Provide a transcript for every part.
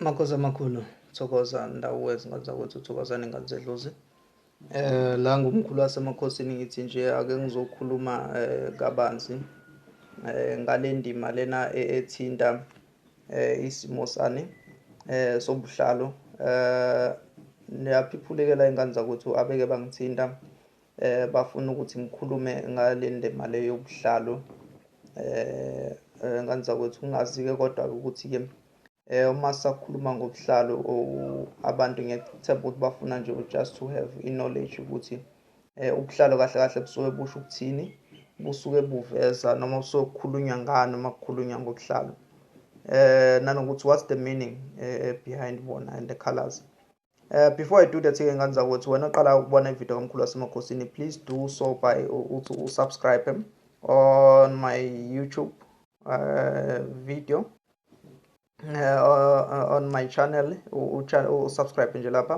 Makhosi amakhulu thokoza ndawo wezingane zakwethu thokozani ingane zedlozi eh la ngumkhulu wasemakhosini ngithi nje ake ngizokhuluma eh, kabanzi eh ngalendima lena e-, ethinta eh isimo sani eh sobuhlalo eh niyaphiphulekela ingane zakwethu abeke bangithinta Eh bafuna ukuthi ngikhulume ngale ndema le yobuhlalo. Eh, eh nganza kwethu ungazi ke kodwa ukuthi ke eh uma sakhuluma ngobuhlalo abantu ngiyacethemba ukuthi bafuna nje just to have i knowledge ukuthi eh ubuhlalo kahle kahle busuke busho ukuthini busuke buveza noma busuke kukhulunywa ngani uma kukhulunywa ngobuhlalo eh nanokuthi what's the meaning eh, behind bona and the colors Uh, before I do that ke ngani zakwethu wena oqala ukubona ivideo kamkhulu wasemakhosini please do so by uthi usubscribe on my YouTube uh, video uh, uh on my channel usubscribe nje lapha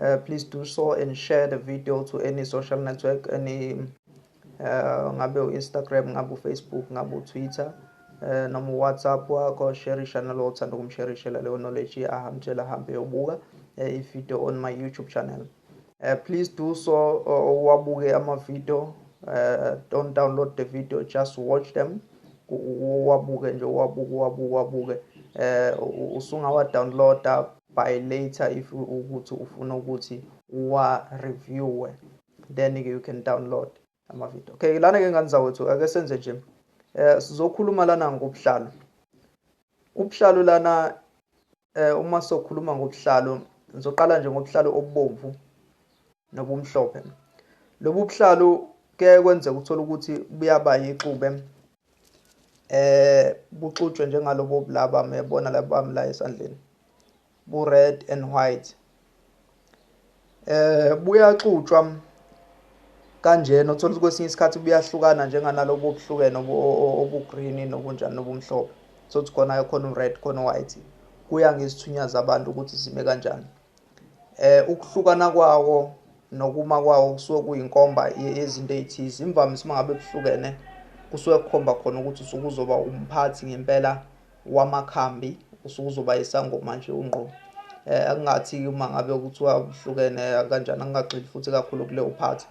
uh, please do so and share the video to any social network any eh, ngabe u-instagram ngabe ufacebook ngabe utwitter eh, noma uwhatsapp wakho sherisha nalo othanda ukumsherishela leyo knowledge ahamtshela ahambe yobuka eh, ivideo on my youtube channel eh, please do so uwabuke amavideo eh, don't download the video just watch them uwabuke nje uwabuke uwabuke uwabuke eh usungawa downloada by later if ukuthi ufuna ukuthi uwa reviewe then ke you can download ama video okay lana ke ngani zawethu ake senze nje eh sizokhuluma lana ngobuhlalo ubuhlalo lana eh uma sokhuluma ngobuhlalo ngizoqala nje ngobuhlalo obubomvu nobumhlophe lobu buhlalo kuye kwenzeka uthola ukuthi buyaba yixube eh buxutshwe njengalobo bulaba mebona labo bami la esandleni bu red and white eh buyaxutshwa kanjena uthola ukuthi kwesinye isikhathi buyahlukana njenganalobo obuhlukene obugreen nobunjani nobumhlophe sokuthi khona khona u-red khona u-white kuya ngezithunya zabantu ukuthi zime kanjani eh ukuhlukana kwawo nokuma kwawo kusuke kuyinkomba yezinto ezithize imvamisa uma ngabe kuhlukene kusuke kukhomba khona ukuthi usuke uzoba umphathi ngempela wamakhambi usuke uzoba isangoma nje ungqo um eh, akungathi uma ngabe kuthiwa kuhlukene kanjani angingagxili futhi kakhulu kuleyo phathi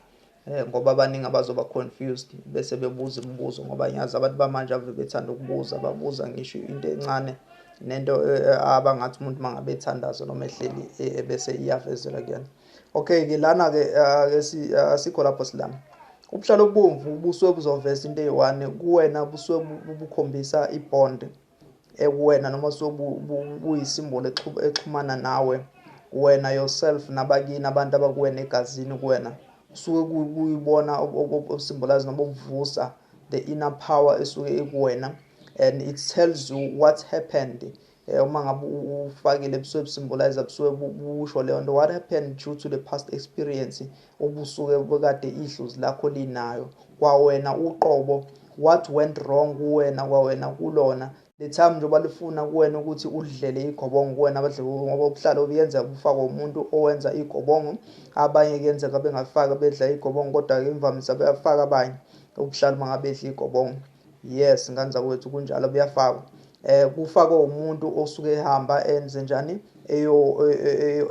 Eh, ngoba abaningi abazoba confused bese bebuza imibuzo ngoba ngiyazi abantu bamanje ave bethanda ukubuza babuza ngisho into encane nento eh, eh, abangathi umuntu mangabe ethandaza noma ehleli bese iyavezela kuyena okay ke lana ke asikho lapho silana ubuhlalo obubomvu ubuswe buzoveza into eyi-one kuwena buswe bukhombisa ibond ekuwena noma buyisimbolo exhumana nawe wena yourself nabakini abantu abakuwena egazini kuwena kusuke kuyibona obusimbolazi noma obuvusa the inner power esuke ikuwena and it tells you what happened eh, uma ngabe ufakile busuke busimbolize busuke busho leyo nto what happened due to the past experience obusuke bekade idlozi lakho linayo kwawena uqobo what went wrong kuwena kwawena kulona le time njengoba lifuna kuwena ukuthi udlele igobongo kuwena abadlebongo ngoba ubuhlalo buyenzeka bufakwe umuntu owenza igobongo abanye kuyenzeka bengafaki bedla igobongo kodwa-ke imvamisa beyafaka abanye ubuhlalo uma ngabe edla igobongo yes ngane zakwethu kunjalo buyafakwa eh kufakwe umuntu osuke ehamba enze njani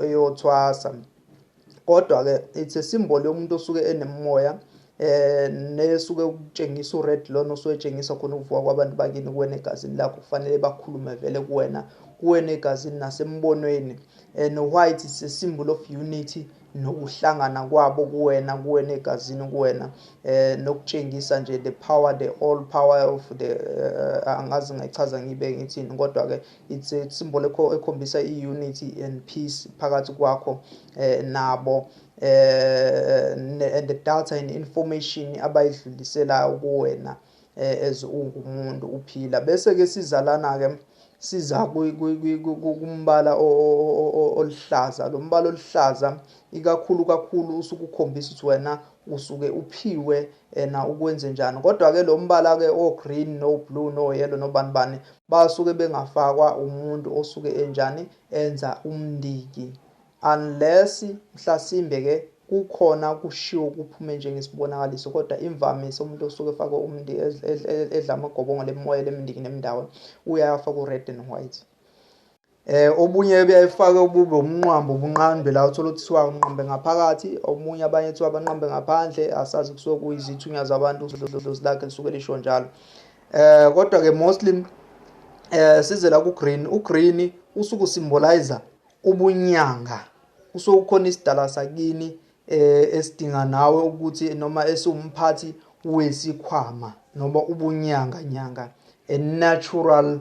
eyothwasa kodwa ke it's a symbol yomuntu osuke enemoya eh nesuke ukutshengisa ured lona osuwetshengisa khona ukuvuka kwabantu bakini kuwena egazini lakho kufanele bakhulume vele kuwena kuwena egazini nasembonweni and eh, white is a symbol of unity nokuhlangana kwabo kuwena kuwena egazini kuwena eh nokutshengisa nje the power the all power of the uh, angazi ngayichaza ngibe ngithini kodwa ke It's a symbol ekhombisa i-unity and peace phakathi kwakho eh, nabo eh, and the data and information abayidluliselayo kuwena eh, as ungumuntu uphila bese-ke sizalana-ke siza kumbala oluhlaza lo mbala oluhlaza ikakhulu kakhulu usuke ukhombisa ukuthi wena usuke uphiwe ena ukwenze njani kodwa ke lo mbala ke o green no blue no yellow no bani bani basuke bengafakwa umuntu osuke enjani enza umndiki unless mhlasimbe ke kukhona kushiwo kuphume njengesibonakaliso kodwa imvamisa umuntu osuke efakwe umndiki edla amagobongo lemoya lemndiki nemndawo uyafa ku red and white Eh obunye ebuyayifaka ubube umnqwambo ubunqambe la uthola ukuthi siwa unqambe ngaphakathi omunye abanye kuthiwa abanqambe ngaphandle asazi kusuke kuyizithunya zabantu udlozi lakhe lisuke lisho njalo eh kodwa ke mostly eh sizela ku green u green usuku symbolizer ubunyanga kusuke kukhona isidala sakini eh esidinga nawe ukuthi noma esiwumphathi wesikhwama noma ubunyanga nyanga a natural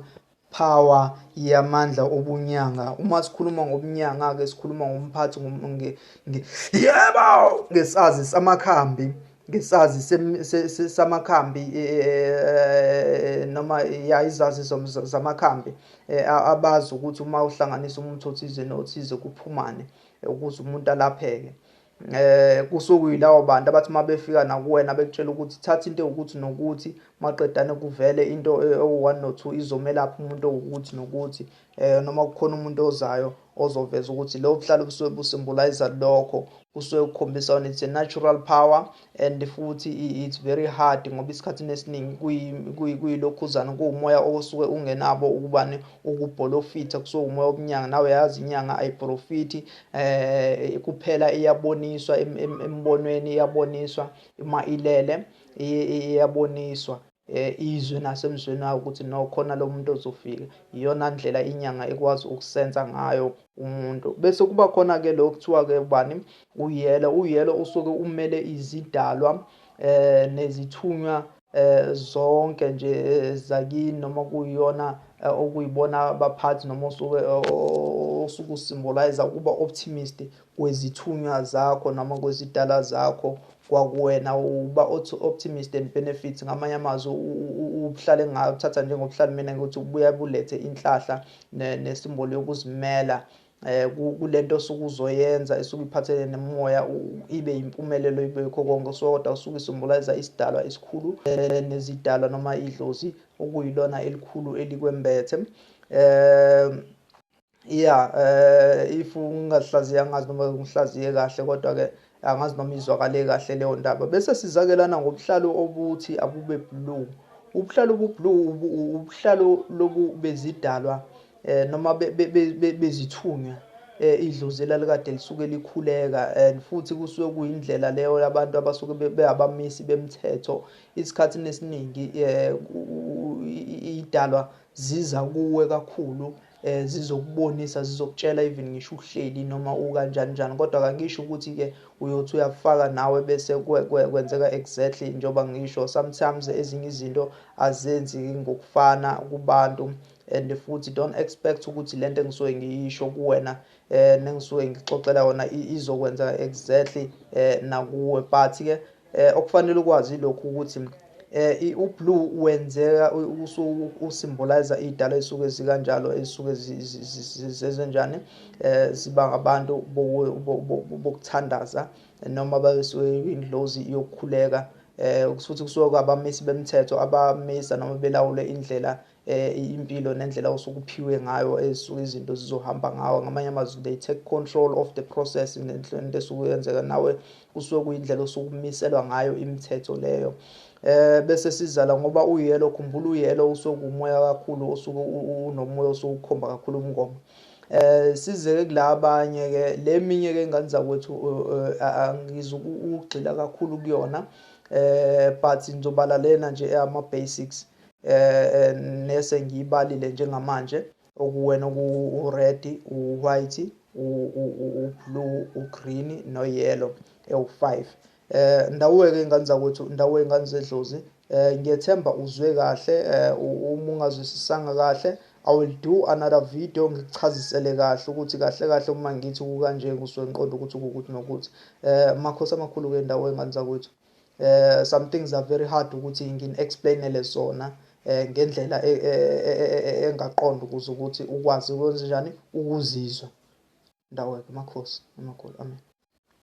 Power yamandla obunyanga uma sikhuluma ngobunyanga ke sikhuluma ngomphathi nge, nge, yebo ngesazi samakhambi ngesazi samakhambi e, e, e, noma ya izazi zamakhambi abazi ukuthi uma uhlanganisa umuntu othize nothize kuphumane ukuze umuntu alapheke eh kusokuyilawo bantu abathi uma befika nakuwena bekutshela ukuthi thatha into ewukuthi nokuthi maqedane kuvele into eh, ewu-one no two izomelapha umuntu owukuthi nokuthi um noma kukhona umuntu ozayo ozoveza ukuthi lobo buhlalo busuke busimbulayiza lokho kusuke kukhombisa ukuthi it's a natural power and futhi it's very hard ngoba isikhathini esiningi kuyilokhuzana kuwumoya osuke ungenabo ukubani ukubholofitha kusuke umoya obunyanga nawe yazi inyanga ayiprofiti eh kuphela iyaboniswa embonweni iyaboniswa uma ilele iyaboniswa eh, izwe nasemzweni wayo ukuthi no khona lo muntu ozofika iyona ndlela inyanga ekwazi ukusensa ngayo umuntu bese kuba khona-ke lo kuthiwa-ke ubani uyelo uyelo usuke umele izidalwa eh nezithunywa eh zonke nje eh, zakini noma kuyiyona eh, okuyibona abaphathi noma osuke eh, osuke usymbolize ukuba optimist kwezithunywa zakho noma kwezidala zakho kwakuwena uba optimist and benefits ngamanye amazwi ubuhlale ngayo uthatha njengobuhlale mina ukuthi ubuya bulethe inhlahla nesimboli yokuzimela eh kulento osuke uzoyenza esuke iphathele nemoya ibe impumelelo ibe yikho konke soda usuke isymbolize isidalwa esikhulu eh, nezidalwa noma idlozi okuyilona elikhulu elikwembethe eh ya um if ungazihlaziya angazi noma ngihlaziye kahle kodwa-ke angazi noma izwakale kahle leyo ndaba bese sizakelana ngobuhlalo obuthi abube blue ubuhlalo obublue ubuhlalo lobu bezidalwa um noma bezithunywa Eh, idlozi elalikade lisuke likhuleka and futhi kusuke kuyindlela leyo yabantu abasuke beyabamisi bemthetho isikhathi nesiningi um idalwa ziza kuwe kakhulu eh zizokubonisa zizokutshela even ngisho uhleli noma ukanjani njani kodwa kangisho ukuthi ke uyothi uyafaka nawe bese kwenzeka exactly njengoba ngisho sometimes ezinye izinto azenzi ngokufana kubantu and futhi don't expect ukuthi lento engisuke ngiyisho kuwena eh nengisuke ngixoxela yona izokwenzeka exactly eh nakuwe but ke Eh okufanele ukwazi lokhu ukuthi eh ublue wenzeka usuku usymbolize idala esuke zikanjalo esuke zezenjani eh ziba ngabantu bokuthandaza noma basuke indlozi yokukhuleka eh ukuthi kusuke kwabamisi bemthetho abamisa noma belawule indlela eh, impilo nendlela osuke uphiwe ngayo ezisuke izinto zizohamba ngawo ngamanye amazwi they take control of the process ngenhlonto esuke yenzeka nawe kusuke kuyindlela osuke umiselwa ngayo imithetho leyo eh bese sizala ngoba uyelo khumbula uyelo usuke umoya kakhulu osuke unomoya osuke ukhomba kakhulu umngoma eh sizeke kulabanye ke leminye ke ingane zakwethu eh, eh, angizukugxila kakhulu kuyona eh but ngizobala lena nje ama basics eh, eh nese ngiyibalile njengamanje okuwena okuwu-red u-white u-blue u-green no-yellow ewu-five eh ndawuweke ingane zakwethu ndawo ingane zedlozi eh ngiyethemba uzwe kahle eh, uma ungazwisisanga kahle I will do another video ngikuchazisele kahle ukuthi kahle kahle uma ngithi kukanje ngizwe ngiqonda ukuthi ukuthi nokuthi eh makhosi amakhulu ke ndawo engane zakwethu eh some things are very hard ukuthi ngin explainele zona eh ngendlela e, e, e, engaqonda ukuze ukuthi ukwazi ukwenza njani ukuzizwa ndawo yakhe makhosi amakhulu amen